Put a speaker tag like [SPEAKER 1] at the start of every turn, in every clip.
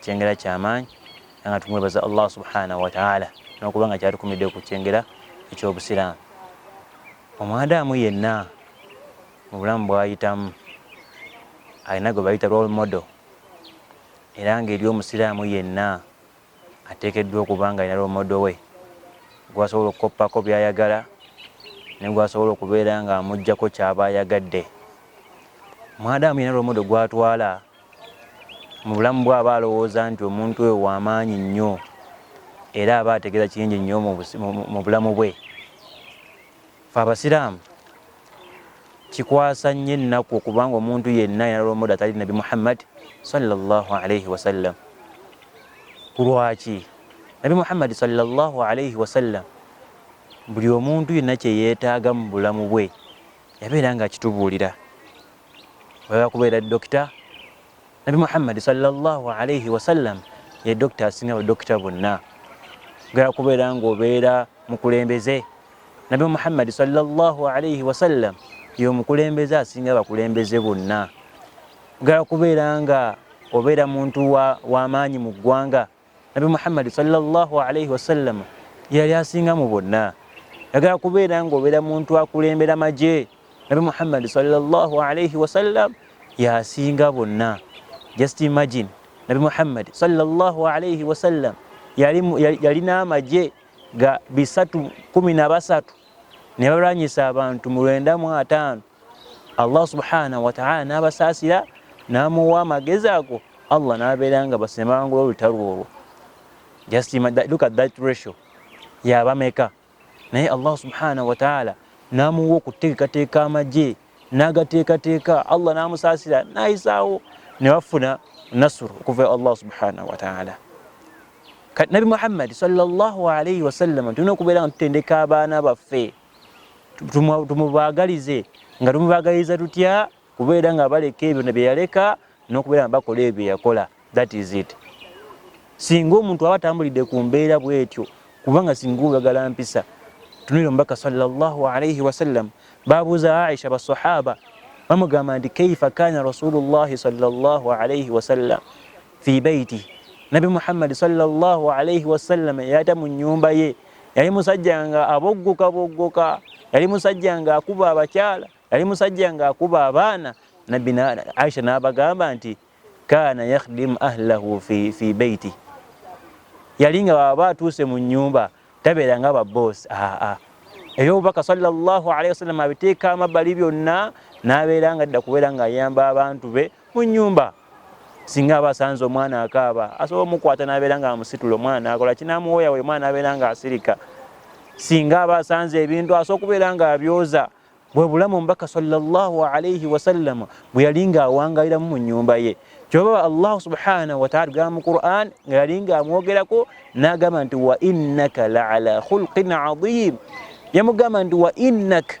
[SPEAKER 1] kyengera kyamaanyi era nga tumwebaza allah subhanahu wataala nokuba nga kyatukumidde ku kyengera ekyobusiraamu omwadaamu yenna mu bulamu bwayitamu alina gwe bayita role model era ngaeri omusiraamu yenna ateekeddwa okuba nga alina role model we gwasobola okukoppako byayagala negwasobola okubeera nga amugjako kyaba ayagadde omwadaamu yenna role model gwatwala mu bulamu bwe aba alowooza nti omuntu oyo wamaanyi nnyo era aba ategeera kingi nnyo mu bulamu bwe fe abasiraamu kikwasa nnyo ennaku okubanga omuntu yenna yanalomode atali nabi muhammad salllah alaihi wasallam kulwaki nabi muhammad salllah alaihi wasallam buli omuntu yenna kyeyeetaaga mu bulamu bwe yabeera nga akitubuulira Oya kubeera dokita Nabi Muhammad sallallahu alayhi wa sallam ye dokita asinga badokita bonna. Oya kubeera ng'obeera mukulembeze Nabi Muhammad sallallahu alayhi wa sallam ye omukulembeze asinga bakulembeze bonna. Ogala kubeera nga obeera muntu wa, wa maanyi mu ggwanga nabi muhammadi salllah alaihi wasallama yeyali asinga mu bonna yagala kubeera ngaobeera muntu akulembera magye nabi muhammadi salllah alaihi wasallam yasinga bonna just imagine nabi muhammadi salllah alaihi wasallam yalina amagye ga bisatu kumi na basatu ne balwanyisa abantu mu lwenda mu ataano Allah subhanahu wa ta'ala n'abasaasira n'amuwa amagezi ago Allah n'abeera nga basemangula olutalo olwo just look at that ratio yabameka naye Allah subhanahu wa ta'ala n'amuwa okuteekateeka amagye n'agateekateeka Allah n'amusaasira n'ayisaawo ne bafuna nasuru okuva Allah subhanahu wa ta'ala kati nabi muhammadi sallallahu alaihi wasallama tulina okubeera nga tutendeka abaana baffe tumubagalize nga tumubagaliza tutya kubeera nga baleka ebyo byeyaleka nokubeera nga bakola ebyo byeyakola that is it singa omuntu aba atambulidde ku mbeera bwetyo kubanga singa oyagala mpisa tunira omubaka salllahu alaihi wasallam babuuza aisha basahaba bamugamba nti kaifa kana rasulullahi salllah alaihi wasallam fi baiti nabi muhammadi salllah alaihi wasallama yata mu nyumba ye yali musajja nga aboggoka boggoka yali musajja nga akuba abakyala yali musajja nga akuba abaana nabbi aisha n'abagamba nti kaana yakhdimu ahlahu fi, fi beiti yali nga baba atuuse mu nyumba tabeera nga baboosi aa eyobubaka sallallahu alaihi wasallam abiteeka amabbali byonna n'abeera nga dda kubeera ng'ayamba abantu be mu nyumba singa aba asanze omwana akaaba asobola omukwata n'abeera nga amusitula omwana akola kinamuwoya we mwana abeera nga asirika singa aba asanze ebintu asobola okubeera nga abyoza bwe bulamu omubaka salllah alaihi wasallama bwe yali nga awangaliramu mu nyumba ye kyoba allahu subhanahu wataala tugamba mu quran nga yali nga amwogerako n'agamba nti wa innaka laala khulqin adiim yamugamba nti wa innaka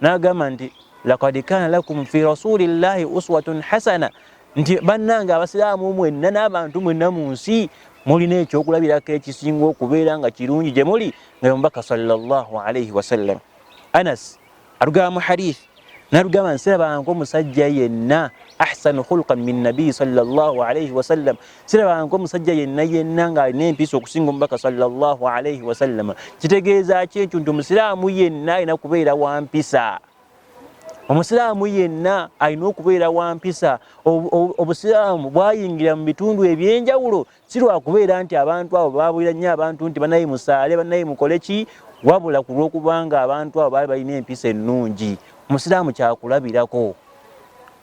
[SPEAKER 1] n'agamba nti lakad kaana lakum fi rasulillahi uswatun hasana nti bannange abasiraamu mwenna n'abantu mwenna mu nsi mulina ekyokulabirako ekisinga okubeera nga kirungi gye muli nga omubaka sallallahu alaihi wasallam anas atugamba mu hadith natugamba nsirabanko omusajja yenna ahsanu khulqan min nabiyi sallallahu alaihi wasallam siraba nko musajja yenna yenna nga alina empiisa okusinga omubaka salllah alaihi wasallama kitegeeza ki ekyo nti omusiraamu yenna alina kubeera wa mpisa omusiraamu yenna alina okubeera wa mpisa obusiraamu bwayingira mu bitundu ebyenjawulo si lwakubeera nti abantu abo babulira nnyo abantu nti banaye musaale banaye mukole ki wabula ku lw'okubanga abantu abo baali balina empisa ennungi omusiraamu kyakulabirako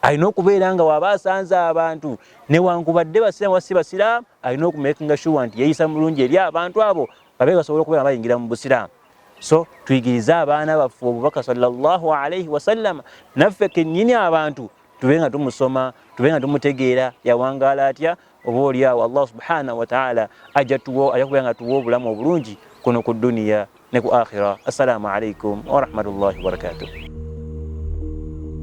[SPEAKER 1] alina okubeera nga waba asanze abantu newankubadde basiraamu wasi basiraamu alina okumakinga shuwa nti yeyisa mulungi eri abantu abo babe basobola okubeera bayingira mu busiraamu so tuyigirize abaana baffe obubaka sallallahu alaihi wasallama naffe kenyini abantu tube nga tumusoma tube nga tumutegeera yawangaala atya oba oliawo allah subhanahu wataala ajja tuwa ajja kubeera nga tuwa obulamu obulungi kuno ku duniya ne ku akhira assalamu alaikum warahmatullahi wabarakatuh